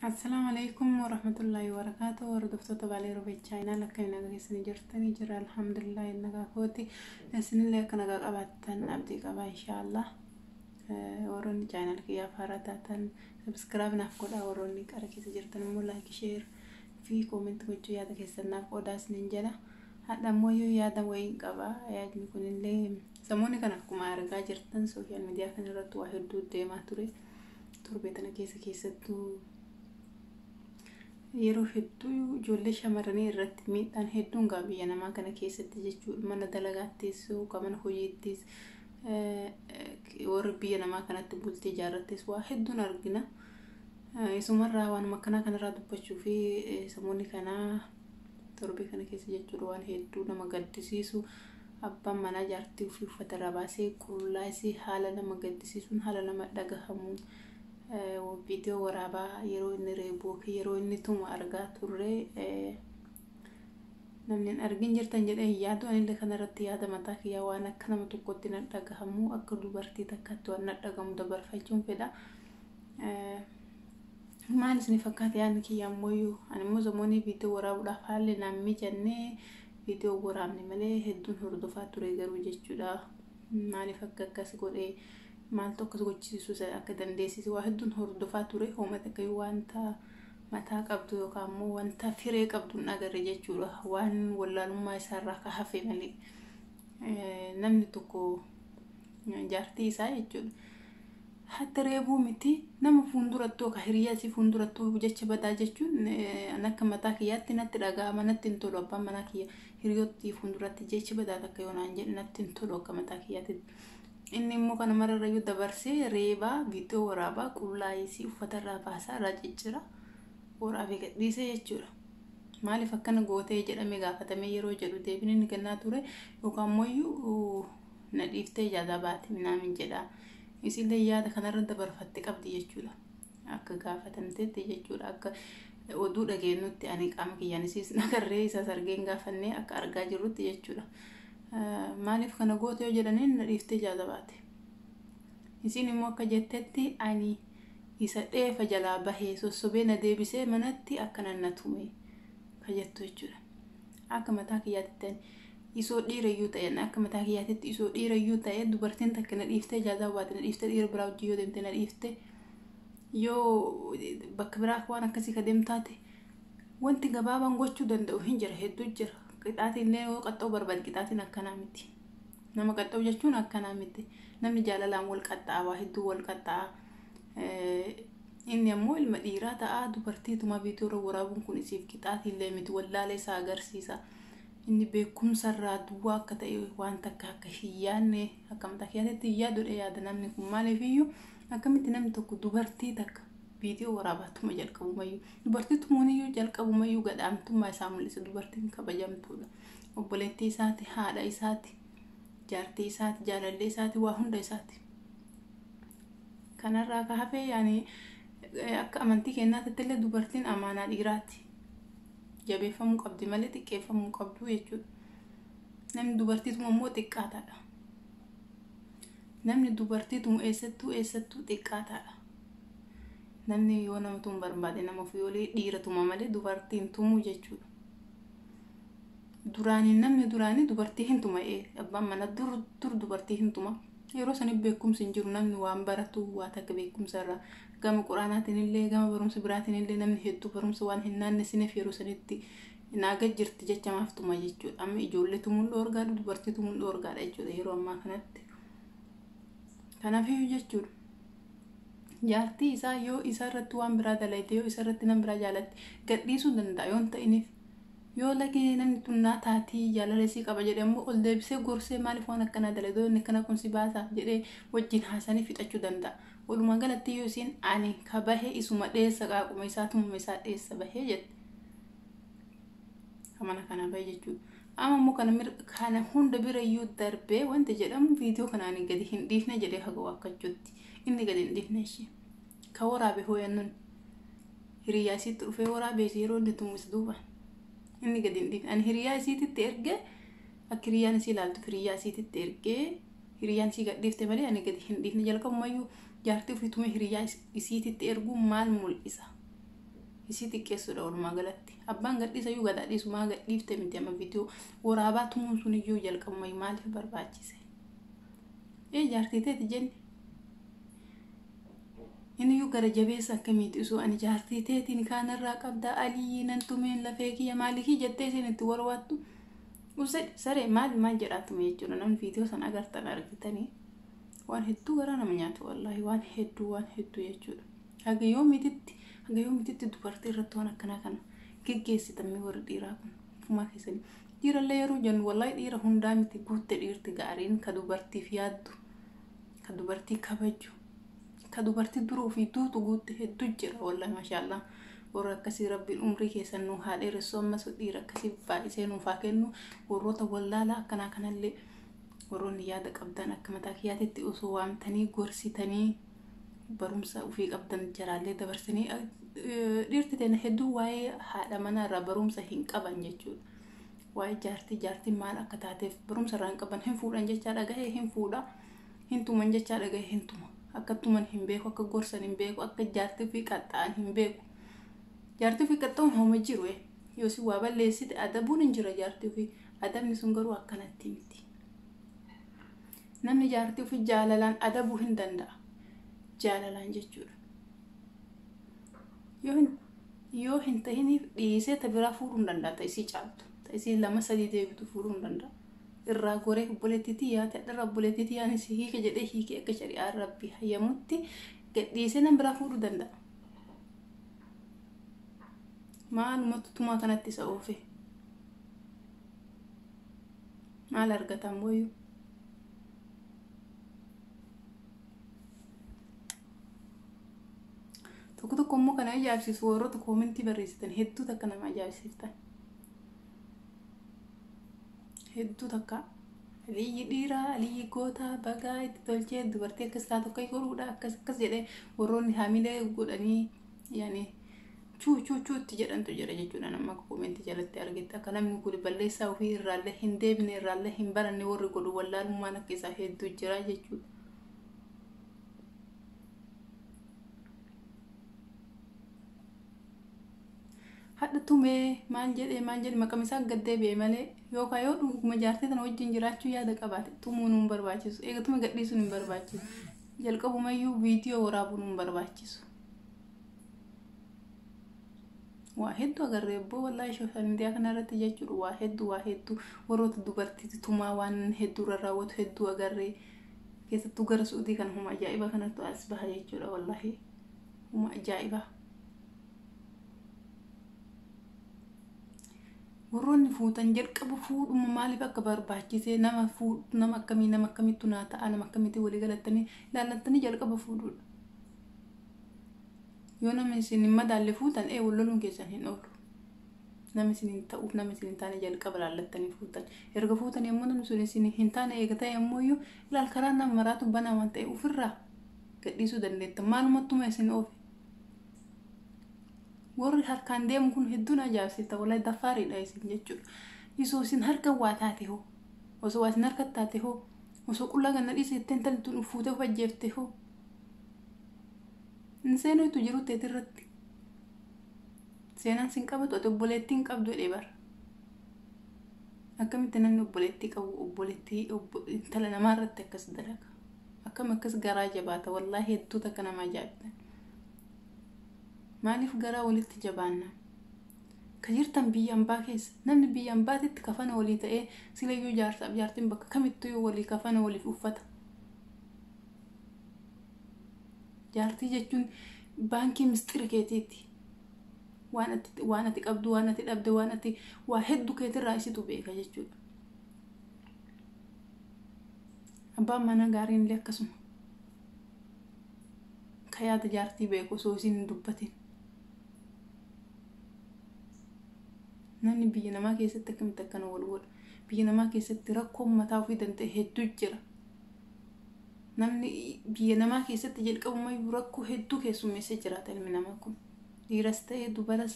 Assalaamu alaikum warahmatullaahi wabarakaatu hordoftoota baalee rubee chaayinaal akka hin agarsiisanii jirtanii jira alhamdulillah hin nagaa kooti isinillee akka nagaa qabaattan abdii qaba inshaallah warroonni chaayinaal kiyyaaf haaraa taatan sabiskiraab naaf godhaa warroonni qara keessa jirtan immoo laayik sheer fi koomentii gochuu yaada keessan naaf qoodaa isinin jala hadha immoo yoo yaada wayiin qaba yaadni kunillee samoonni kan akkuma argaa jirtan sooshaal miidiyaa kanarratti waa hedduu deemaa ture. torbee tana keessa keessattuu yeroo hedduu ijoollee shamarranii irratti miidhaan hedduun gaa biyya namaa kana keessatti jechuudha mana dalagaattis yookaan mana hojiittis eh, eh, warri biyya namaa kanatti bultii ijaarrattis waa hedduun argina. Eh, Isumarraa waanuma akkanaa kanarraa dubbachuu fi eh, samoonni kanaa torbee kana keessa jechuudha waan hedduu nama gaddisiisu Abbaan manaa jaartii ofii uffata irraa baasee qullaa isii haala nama gaddisiisuun, haala nama dhagahamuun viidiyoo waraabaa yeroo inni reebu yookiin yeroo inni tumu argaa turre. Namni hin argin jirtan jedhee hin yaadu. Anillee kanarratti yaada mataa kiyyaa waan akka nama tokkotti na dhagahamu akka dubartii takkaatti waan na dhagahamu dabarfachuun fedha. Maal isin fakkaata yaadni kiyya ammoo ani immoo zamoonii viidiyoo waraabuudhaaf haalli naan mijannee viidiyoo waraabne malee hedduun hordofaa ture garuu jechuudha maaliif akka akkas godhe maaltu akkas gochisiisuu isa akka dandeessise waa hedduun hordofaa ture hooma takka yoo wanta mataa qabdu yookaan immoo wanta firee qabdu hin agarre jechuudha waan wallaalummaa isaarraa ka hafe malee namni tokko jaartii isaa jechuudha. Hatta reebuu miti nama fuuldurattuu akka hiriyaa si fuuldurattuu jecha badaa jechuun eh, an akka mataa kiyyaatti natti dhaga'ama natti hin tolu abbaan manaa kiyya hiriyoottii fuulduratti jecha badaa takka yoo naan jedhe natti hin tolu akka mataa kiyyaatti. Inni immoo kana mararrayyuu dabarsee reebaa viidiyoo waraabaa qullaa isii uffata irraa baasaa irraa ciccira waraabee gadhiise jechuudha. Maaliif akkana gootee jedhamee gaafatamee yeroo jedhu deebiin inni kennaa ture yookaan immoo na dhiiftee jaadaa baate minaamin jedha. Isillee yaada kanarra dabarfatte qabdi jechuudha. Akka gaafatamtetti jechuudha. Akka oduu dhageenyutti ani qaama kiyyaan isiis nagarree isaas argeen gaafannee akka argaa jirrutti jechuudha. Maaliif kana goote yoo jedhaniin na dhiiftee jaadaa baate. Isin immoo akka jettetti ani isa dheefa jalaa bahe sossobee na deebisee manatti akkanan na tume ka jettu jechuudha. Akka mataa kiyyaatitti ani isoo dhiirayyuu ta'e ani akka mataa kiyyaatitti isoo dhiirayyuu ta'e dubartiin takka na dhiiftee ijaazaa baate na dhiiftee dhiira biraa wajjin yoo deemte na dhiifte yoo bakka biraa waan akkasii ka deemtaate wanti gabaabaan gochuu danda'u hin jira hedduu jira qixaatiin illee yoo qaxxoo barbaade qixaatiin akkanaa miti. nama qaxxa'u jechuun akkanaa miti namni jaalalaan wal qaxxa'a waa hedduu wal qaxxa'a inni ammoo ilma dhiiraa ta'a dubartiituma viidiyoorra waraabuun kun isiif qixaatiillee miti wallaalee isaa agarsiisa inni beekumsarraa duwwaa akka ta'e waan takka akka hin yaadne akka mataa kiyyaatitti hin yaadudha yaada namni kun maaliif iyyuu akkamitti namni tokko dubartii takka viidiyoo waraabaatuma jalqabumayyuu dubartii tumuuniyyuu jalqabumayyuu gadhaamtummaa isaa mul'isa dubartiin kabajamtuudha. obboleettii isaati haadha isaati jaartii isaati jaalallee isaati waa hunda isaati kanarraa ka hafee yaani eh, akka amantii keenyaatti illee dubartiin amaanaa dhiiraati jabeeffamuu qabdi malee xiqqeeffamuu hin qabdu jechuudha namni dubartiituma immoo xiqqaataadha namni dubartiituma eessattuu eessattuu xiqqaataadha namni yoo namatu hin barbaade nama ofii olee dhiira tuma malee dubartiin tumuu jechuudha duraanii namni duraanii dubartii hin tuma ee abbaan mana dur dur dubartii hin tuma yeroo saniif beekumsi hin jiru namni waan baratu waa takka beekumsa irraa gama quraanaatiin illee gama barumsa biraatiin illee namni hedduu barumsa waan hin naannesineef yeroo sanitti naaga jirti jecha maaf tuma jechuudha amma ijoollee tumuun dhoorgaadha dubartii tumuun dhoorgaadha jechuudha yeroo ammaa kanatti kanaafii jechuudha. jaartii isaa yoo isa irratti waan biraa dalayte yoo isa irratti nam biraa jaalatte gadhiisuu danda'a yoon ta'iniif yoo lagee namni tunnaa taatii jaalala isii qaba jedhe ammoo ol deebisee gorsee maaliif waan akkanaa dalayte inni kana kun si baasaaf jedhee wajjin haasanii fixachuu danda'a. Walumaa galatti yoo isiin ani ka bahe isuma dheessa qaaquma isaa tumuma isaa dheessa bahee jette. Amana kana bahe jechuudha. Amma immoo kana mir- kana hunda bira iyyuu darbee wanti jedhamu viidiyoo kana ani gadi hin dhiifne jedhee haga waakkachuutti inni gadi hin dhiifne ishee ka waraabe hooyannoon hiriyaa isiitti dhufee waraabee ishee yeroo inni tummis duuba inni gadi hin dhiifne ani hiriyaa isiititti ergee akka hiriyaan isii ilaaltuuf hiriyaa isiititti ergee hiriyaan isii gad dhiifte malee ani gadi hin dhiifne jalqabumayyuu jaartii ofii tumee hiriyaa is- isiititti erguu maal mul'isa isii xiqqeessuudha walumaa galatti. Abbaan gadhiisa iyyuu gadaa dhiisumaa gadhiifte miti amma viidiyoo waraabaa tumuun sun iyyuu jalqabuma maaliif barbaachise? Ee jaartii teeti jenni. Inni iyyuu gara jabeessa akkamiiti osoo ani jaartii teetiin kaanarraa qabdaa aliyyii nan tumeen lafee kiyya maalikii jettee isin itti warwaattu. Usee saree maali maal jedhaa tume jechuudha namni viidiyoo san agartan argitanii waan hedduu garaa nama nyaatu wallaahi waan hedduu waan hedduu jechuudha. Haga yoomititti haga yoomititti dubartii irratti waan akkanaa kana geggeessitan mee warri dhiiraa kun fumaa keessanii. Dhiirallee yeroo jennu wallahi dhiira hundaa miti guutte dhiirti gaariin ka dubartiif yaaddu ka dubartii kabaju ka dubartii dura ofii duutu guutte hedduu jira wallahi mashaallaa. Warra akkasii rabbiin umrii keessan nu haa dheeressu ammas dhiira akkasii baay'isee nuuf haa kennu warroota wallaalaa akkanaa kanallee warroonni yaada qabdan akka mataa kiyyaatitti osoo waamtanii gorsitanii barumsa ofii qabdan jaraallee dabarsanii dhiirti teena hedduu waa'ee haadha manaa irraa barumsa hin qaban jechuudha. Waa'ee jaartii jaartiin maal akka taateef barumsa irraa hin qaban hin fuudhan jechaa dhagahee hin fuudha hin tuman jechaa dhagahee hin tuma akka tuman hin beeku akka gorsan hin beeku akka jaartii ofii qaxxa'an hin beeku. Jaartii ofii qaxxa'uun hooma jiru yoo si waa balleessite adabuun hin jira jaartii ofii adabni sun garuu akkanatti miti. Namni jaartii ofii jaalalaan adabuu hin danda'a. Jaalalaan jechuudha. Yoo hin yoo hin tahiniif dhiisee ta biraa fuudhuu hin danda'a ta isii caaltu ta isii lama sadii deebitu fuudhuu hin danda'a. Irraa goree obboleettiitii yaate irra obboleettiitii yaani si hiike jedhee hiikee akka shari'aa rabbi hayyamutti gadhiisee nama biraa fuudhuu danda'a. Maalumatu tumaa kanatti isa oofe. maal argata ammoyyuu tokko tokko immoo kana ajaa'ibsiisu warroota koomentii barreessitan hedduu takka nama ajaa'ibsiiftan hedduu takka aliyyi dhiiraa aliyyi gootaa bagaa itti tolchee dubartii akkas taatu akka godhuudha akkas akkas jedhee warroonni haamilee godhanii yaani chuu chuu chuu itti jedhantu jira jechuudhaan amma akka koomeentii jalatti argetti akka namni kun balleessaa ofii irraallee hin deebine irraallee hin baranne warri godhu wallaalummaan akka isaa hedduu jira jechuudha. Hadha tumee maal jedhee maal jedhe maqaan isaa gad deebi'e malee yookaan yoo dhuguma jaartii tana wajjin jiraachuu yaada qabaate tumuun hin barbaachisu eegatuma gadhiisuun hin barbaachisu jalqabumayyuu viidiyoo waraabuun hin barbaachisu. waa hedduu agarree abboo wallaahi sooshaal miidiyaa kana irratti jechuudha waa hedduu waa hedduu warroota dubartiitti tumaa waan hedduu irra raawwatu hedduu agarree keessattuu gara suudii kana huma ajaa'iba kanattu as baha jechuudha wallaahi huma ajaa'iba. Warroonni fuutan jalqaba fuudhuma maaliif akka barbaachisee nama fuudhu nama akkamii nama akkamittu naa ta'a nama akkamitti walii galattanii ilaallattanii jalqaba fuudhuudha. Yoo namni isin hin madaalle fuutan ee wal loluun keessan hin oolu. Nama isin hin ta'uuf nama isin hin taane jalqaba laallattanii fuutan. Erga fuutan yommuu namni sun isin hin taane eega ta'e ammoo iyyuu ilaal karaa nama maraatu banaa waan ta'e ofirraa gadhiisuu dandeettan. Maalumattuma isin oofe. Warri harkaan deemu kun hedduun ajaa'ibsiisa walaa dafaariidha isin jechuudha. Isoo isin harka waa taate hoo osoo waa isin harka taate hoo osoo qullaa ganna dhiise jettee intalli tun fuutee of ajjeefte hoo hin seenuu itti jiru teeti irratti seenaan sin qabatu ati obboleettii hin qabdu jedhee bara akkamitti namni obboleettii qabu obboleettii intala namaa irratti akkas dalaga akkam akkas garaa jabaata wallaahi hedduu takka nama ajaa'ibtan maaliif garaa walitti jabaanna ka jirtan biyya ambaa keessa namni biyya ambaatitti kafana walii ta'ee silayyuu jaarsaaf jaartiin bakka kamittuu walii kafana waliif uffata jaartii jechuun baankii misxira keetiiti waan ati waan ati qabdu waan ati dhabde waan ati waa hedduu keetirraa isitu beeka jechuudha abbaan manaa gaariin illee akkasuma ka yaada jaartii beeku osoo isiin hin dubbatin namni biyya namaa keessatti akkamitti akkana wal godha biyya namaa keessatti rakkoon mataa ofii danda'e hedduu jira Namni biyya namaa keessatti jalqabumayyuu rakkoo hedduu keessummeessee jiraata ilmi namaa kun. Dhiiras ta'ee dubaras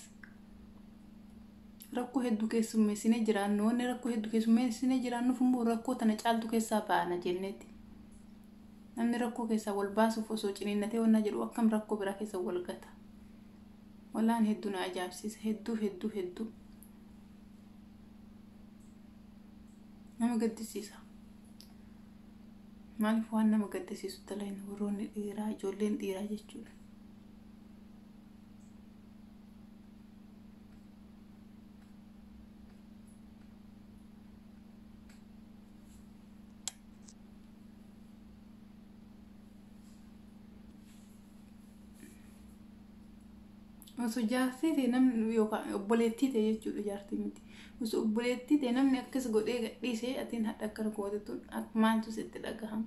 rakkoo hedduu keessummeessinee jiraannu. Wanni rakkoo hedduu keessummeessinee jiraannuuf immoo rakkoo tana caaltu keessaa baana jenneetti. Namni rakkoo keessaa wal baasuuf osoo ciniinnatee wannaa jedhu akkam rakkoo biraa keessa wal gata. Walaan hedduu na ajaa'ibsiisa. Hedduu hedduu hedduu. Nama gaddisiisa. Maaliif waan nama gaddisiisu dalagne warroonni dhiiraa ijoolleen dhiiraa jechuudha. Osoo jaartii ta'e namni yookaan obboleettii ta'e jechuudha jaartii miti. Osoo obboleettii ta'e namni akkas godhee gadhiisee atiin hadha akkana gootetuun maaltu sitti dhagahama.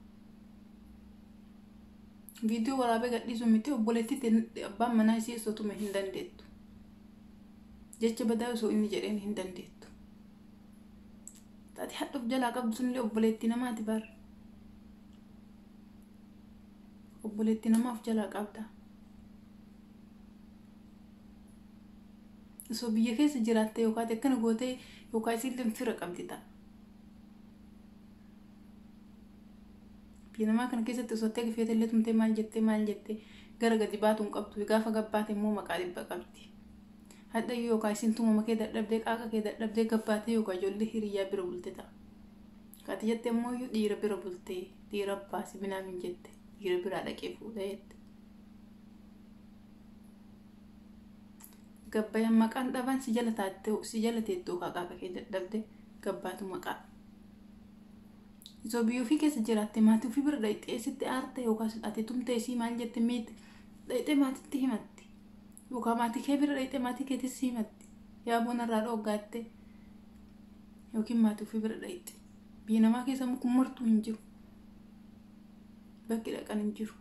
Viidiyoo waraabee gadhiisuu miti obboleettii ta'e abbaan manaa isii osoo tume hin dandeettu. Jecha badaa osoo inni jedheen hin dandeettu. Taate hadha of jalaa qabdu sunillee obboleettii namaati bara. obboleetti nama of jalaa qabda osoo biyya keessa jiraatte yookaan akkana gootee yookaan isiillee fira qabdi ta'a biyya namaa kana keessatti osoo ta'e gifeete illee tumtee maal jettee maal jettee gara gadi baatu hin qabdu gaafa gabbaate immoo maqaa dhibba qabdi hadhayyuu yookaan isiin tumama kee dadhabdee qaaqa kee dadhabdee gabbaatee yookaan ijoollee hiriyyaa bira bulte ta'a Ati jette immooyyuu dhiira bira bultee dhiira abbaa si minaaf hin jette dhiira biraa dhaqee fuudha jette. Gabbayan maqaan dhaban si jala taattee si jala teettuu haqaaqa kee dadhabde gabbaatu maqaa. Izo biyya ofii keessa jiraatte maatii ofii bira dhaqxee sitti aarte yookaas ati tumtee isii maal jette miit dhaqxee maatitti himatti. Yookaan maatii kee bira dhaqxee maatii keetis himatti. Yaa boona irraa dhooggaatte. yookiin maatii ofii bira dhayitti biyya namaa keessa immoo kun martuu hin jiru bakki dhaqan hin jiru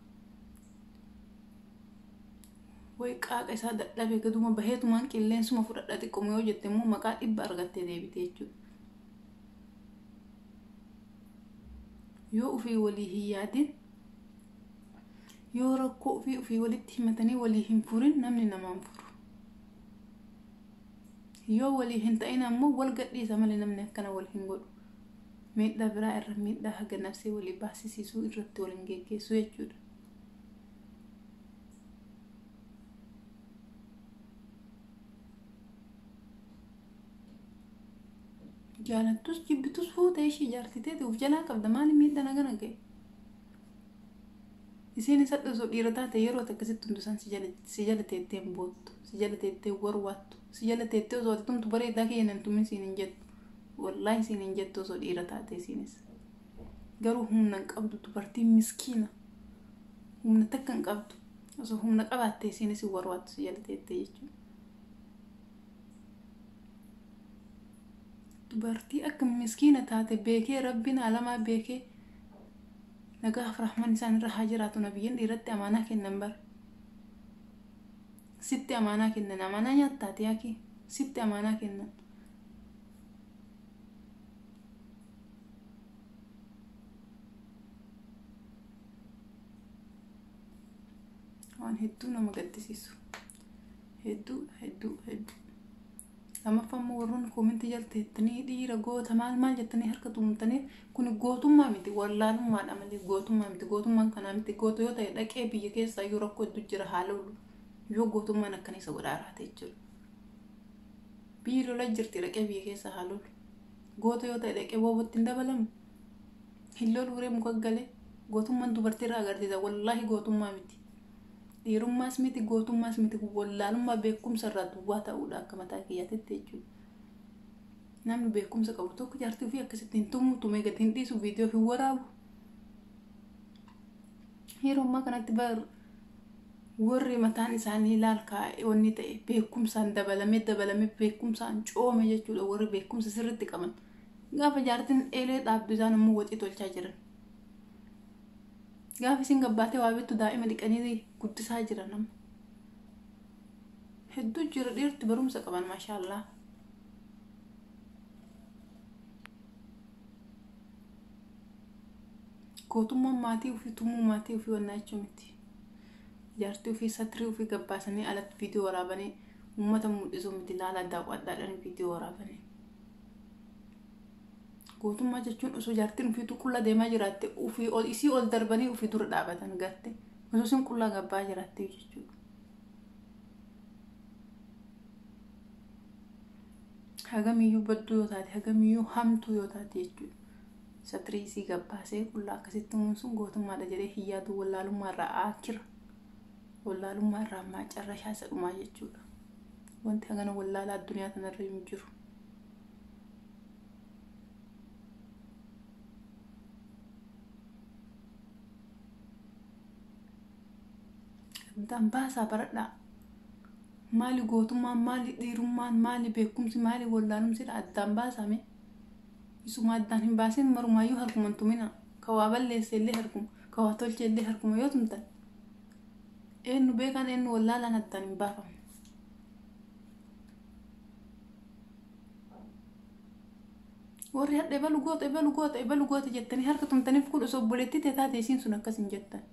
way qaaqa isaa dadhabe gaduma baheetumaan qilleensuma fudhadha xiqquma yoo jette immoo maqaa dhibba argattee deebite jechuudha yoo ofii walii hin yaadin yoo rakkoo ofii ofii walitti himatanii walii hin furin namni namaan furu Yoo walii hin ta'in ammoo wal gadhiisa malee namni akkana wal hin godhu. Miidhaa biraa irra miidhaa haga nafsee walii baasisiisuu irratti wal hin geggeessu jechuudha. Jaalattus jibbitus fuute ishii jaartii teeti of jalaa qabda maali miidhaan hagana ga'e? Isiin hisadhu osoo dhiira taate yeroo ati akkasitti hundu isaan si jala teettee hin boottu si jala teettee hin warwaattu si jala teettee osoo ati tumtu bareedaa kiyya nan tumin siin hin jettu wallaahi siin hin jettu osoo dhiira taate isiinis garuu humna hin qabdu dubartiin miskiina humna takka hin qabdu osoo humna qabaatte isiinis hin warwaattu si jala teettee jechuudha. Dubartii akka miskiina taate beekee rabbiin alamaa beekee Nagaaf rahman isaan irra haa jiraatu nabiyyin dhiiratti amaanaa kennan bar sitti amaanaa kennan amaanaa nyaattaati yaaki sitti amaanaa kennan waan hedduu nama gaddisiisu hedduu hedduu hedduu Lammaffaa immoo warroonni koomentii jala teettanii dhiira goota maal maal jettanii harka tumtanii kun gootummaa miti wallaalummaadha malee gootummaa miti gootummaan kanaa miti goota yoo ta'e dhaqee biyya keessaa iyyuu rakkoo hedduu jira haa lolu yoo gootummaan akkana isa godhaa raate jechuudha. Biyyi lola jirti dhaqee biyya keessaa haa lolu goota yoo ta'e dhaqee boobatti hin dabalamu hin lolu uree muka galee gootummaan dubartii irraa agarsiisa wallaahi gootummaa miti Dhiirummaas miti gootummaas miti kun wallaalummaa beekumsa irraa duwwaa ta'uudha akka mataa kiyyaatitti jechuudha. Namni beekumsa qabu tokko jaartii ofii akkasitti hin tumu tumee gadi hin dhiisu viidiyoo hin waraabu. Yeroo ammaa kanatti bar warri mataan isaanii ilaal kaa'e wanni ta'e beekumsaan dabalamee dabalamee beekumsaan coome jechuudha warri beekumsa sirriitti qaban. Gaafa jaartiin eelee dhaabdu isaan immoo waxii tolchaa jiran. Gaafa isin gabbaatee waa bittu daa'ima dhiqanii guddisaa jira nama. Hedduu jira dhiirti barumsa qaban maashaallaa. Gootummaan maatii ofii tumuu maatii ofii wannaa jechuu miti. Jaartii ofii satirii ofii gabbaasanii alatti viidiyoo waraabanii uummata mul'isuu miti laala daawwadhaadhaan viidiyoo waraabanii. Gootummaa jechuun osoo jaartiin ufiituu qulla deemaa jiraatte ufii ol isii ol darbanii ufii dura dhaabatan garte osoo isin qullaa gabbaa jiraatte jechuudha. Hagamiyyuu badduu yoo taate hagamiyyuu hamtuu yoo taate jechuudha. Satirii isii gabbaasee qullaa akkasitti umuun sun gootummaadha jedhee hin yaadu wallaalummaa irraa aakira. Wallaalummaa irraa ammaa carrashaa isa dhumaa jechuudha. Wanti hagana wallaalaa addunyaa kanarra hin jiru. Gamtaan baasaa baradhaa. Maali gootummaan, maali dhiirummaan, maali beekumsi, maali wallaalumsidha addaan baasame. Isuma addaan hin baasin marumaayyuu harkuman tumina. Ka waa balleesse illee harkuma, ka waa tolche illee harkuma yoo tumtan. Eenyu beekaan eenyu wallaalaan addaan hin baafamne. warri hadha ebalu goota ebalu goota ebalu goota jettanii harka tumtaniif kun osoo obboleettii tee taate isiin sun akkas hin jettan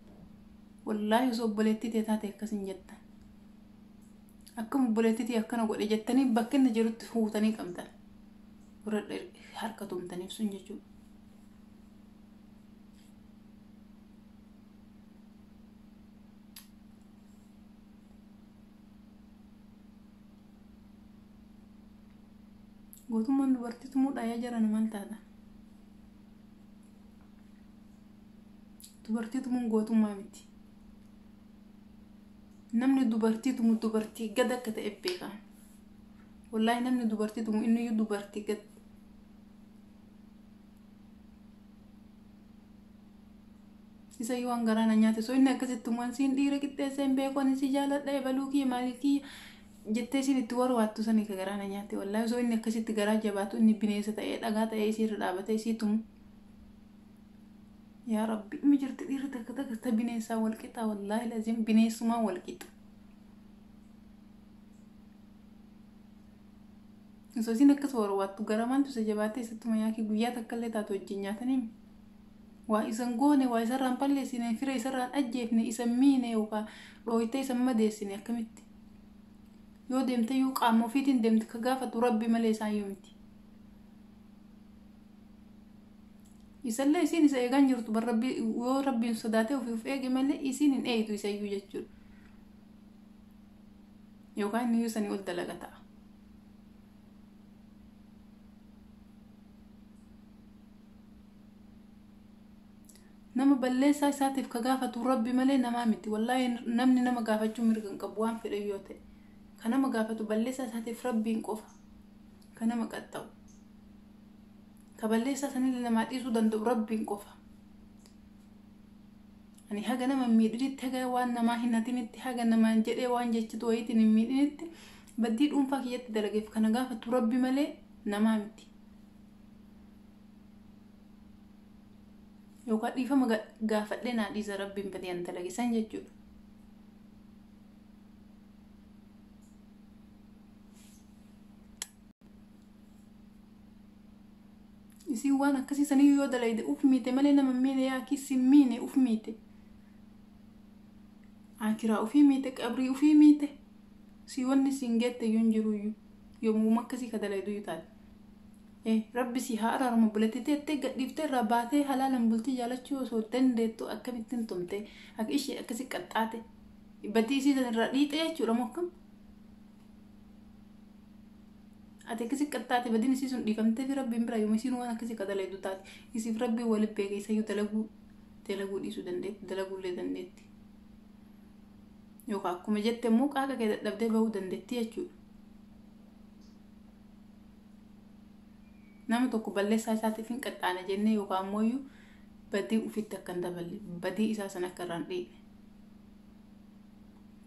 wallaahi osoo obboleettii tee taate akkas hin jettan akkam obboleettii tee akkana godhe jettanii bakka inni jirutti fuutanii qabdan warra harka tumtaniif sun jechuudha. Gootummaan dubartii tumuudha yaa jarana maal taata? Dubartii tumuun gootummaa miti. Namni dubartii tumu dubartii gad akka ta'e beeka. Wallaahi namni dubartii tumu inni iyyuu dubartii gad. isa yoo waan garaa na nyaate soo inni akkasitti waan siin dhiira qixxeessee hin beeku ani si jaaladha ebaluu kiyya maalii kiyya jettee siin itti warwaattu sanii ka garaa na nyaate wallaahi soo inni akkasitti garaa jabaatu inni bineensa ta'ee dhagaa ta'ee isii irra dhaabatee isii tumu yaa rabbi mi jirti dhiirri takka takka ta bineensaa wal qixaa wallaahi laziim bineensumaa wal qixa osoo isiin akkas warwaattu gara maaltu isa jabaatee isattuma yaakii guyyaa takka illee taatu wajjin nyaatanii waa isan goone waa isarraan balleessine fira isarraan ajjeefne isan miine yookaan dhooytee isan madeessine akkamitti yoo deemte iyyuu qaama ofiitiin deemte ka gaafatu rabbi malee isaan yoo miti isallee isiin isa eegaan jirtu bar rabbi yoo rabbiin sodaatee ofii of eege malee isiin hin eeytu isa iyyuu jechuudha yookaan inni iyyuu sanii ol dalaga ta'a nama balleessaa isaatiif ka gaafatu rabbi malee namaa miti wallahi namni nama gaafachuu mirga hin qabu waan fedhe yoo ta'e ka nama gaafatu balleessaa isaatiif rabbiin qofa ka nama qaxxa'u ka balleessaa sanillee namaa dhiisuu danda'u rabbiin qofa ani haga nama hin miidhinitti haga waan namaa hin hatinitti haga namaan jedhee waan jechitu wayiitiin hin miidhinitti baddii dhuunfaa kiyyatti dalageef kana gaafatu rabbi malee namaa miti yookaan dhiifama ga- gaafadhee naa dhiisa rabbiin badii an dalage san jechuudha isin waan akkasii sanii yoo dalayde uf miite malee nama hin miine yaa akki isin miine uf miite akiraa ufii miite qabrii ufii miite si wanni siin geette yun jiruuyyu yomuuma akkasii ka dalayduyyu taate e rabbi si haa araaramu obboletti teette gadhiifte irraa baatee halaalan bultii jaalachuu osoo dandeettu akkamittiin tumte akka ishee akkasi qaxxaate badii isii san irraa dhiixe jechuudha moo akkam ati akkasi qaxxaate badiin isii sun dhiifamtee fi rabbiin bira yooma isiin waan akkasii ka dalaydu taate isiif rabbii waliin beekeessayyuu dalaguu dalaguu dhiisuu dandeetti dalaguullee dandeetti yookaan akkuma jette immoo qaaqa kee dadhabdee bahuu dandeettii jechuudha. Nama tokko balleessaa isaatiif hin qaxxaana jennee yookaan immoo iyyuu badii ufitti akka hin daballe badii isaa san akka irraan dhiidhe.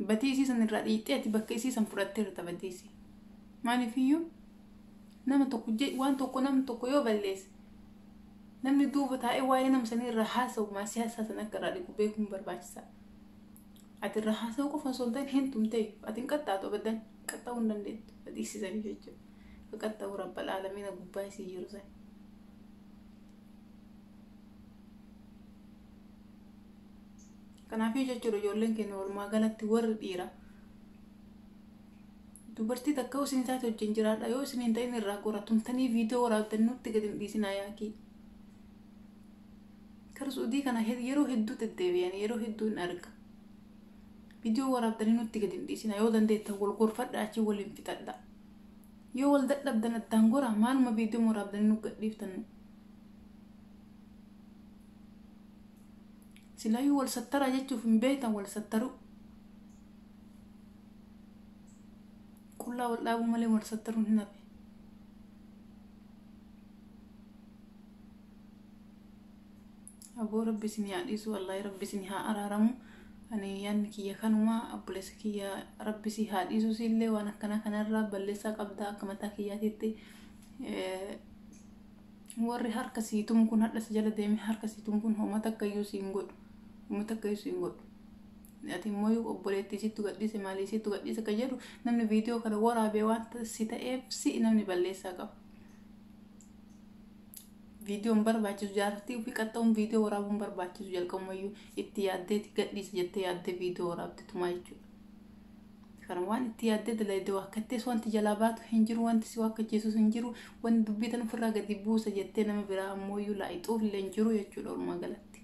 Badii isii san irraa dhiidhee ati bakka isii san fudhattee irra badii isii. Maaliif iyyuu nama tokko waan tokko namni tokko yoo balleesse namni duuba taa'ee waa'ee nama sanii irraa haasa'u maasii haasaa san akka irraa dhiqu beekuun barbaachisaadha. Ati irra haasa'uu qofa osoo hin ta'in hin tumtee ati hin qaxxaatu abaddan qaxxa'uu hin dandeettu ka dhiisisanii jechuudha. Ka qaxxa'uu rabba laalamiina gubbaa isii jiru san. Kanaafii jechuudha ijoolleen keenya walumaa galatti warri dhiira dubartii takka yoo isin taate wajjin jiraadha yoo isin hin ta'in irraa gora tumtanii viidiyoo waraabdan nutti gadi hin dhiisinaa yaakii. Kara Suudii kana yeroo hedduu deddeebi'an yeroo hedduu hin arga. Viidiyoo waraabdanii nutti gadi hin dhiisina yoo dandeettan wal gorfadha achi waliin fixadha. Yoo wal dadhabdan addaan goraa maaluma viidiyoo waraabdanii nu gadhiiftan. Silaayuu wal sattaraa jechuuf hin beektan wal sattaruu. Qullaa wal dhaabuu malee wal sattaruun hin hafe. aboo rabbi isin yaa dhiisu wallaahi rabbi isin haa araaramu ani yaanni kiyya kanuma obboleessa kiyya rabbi si haa dhiisu siillee waan akkanaa kanarraa balleessaa qabda akka mataa kiyyaatiitti eh, warri harka sii tumu kun hadha si jala deeme harka sii tumu kun hooma takka iyyuu siin godhu hooma takka iyyuu siin godhu ati immoo obboleettii sittu gadhiise maalii sittu gadhiise akka jedhu namni viidiyoo kana waraabee waan si ta'eef si'i namni balleessaa qaba. Viidiyoon barbaachisu jaartii ofii qaxxa'uun viidiyoo waraabuun barbaachisu jalqabumayyuu itti yaaddeeti gadhiise jettee yaaddee viidiyoo waraabtetumaa jechuudha. Kana waan itti yaaddee dalayde waakkattees wanti jalaa baatu hin jiru, wanti si waakkachiisus hin jiru, wanti dubbii tan ofirraa gadi buusa jettee nama biraa ammooyyuu laayxuuf illee hin jiru jechuudha walumaa galatti.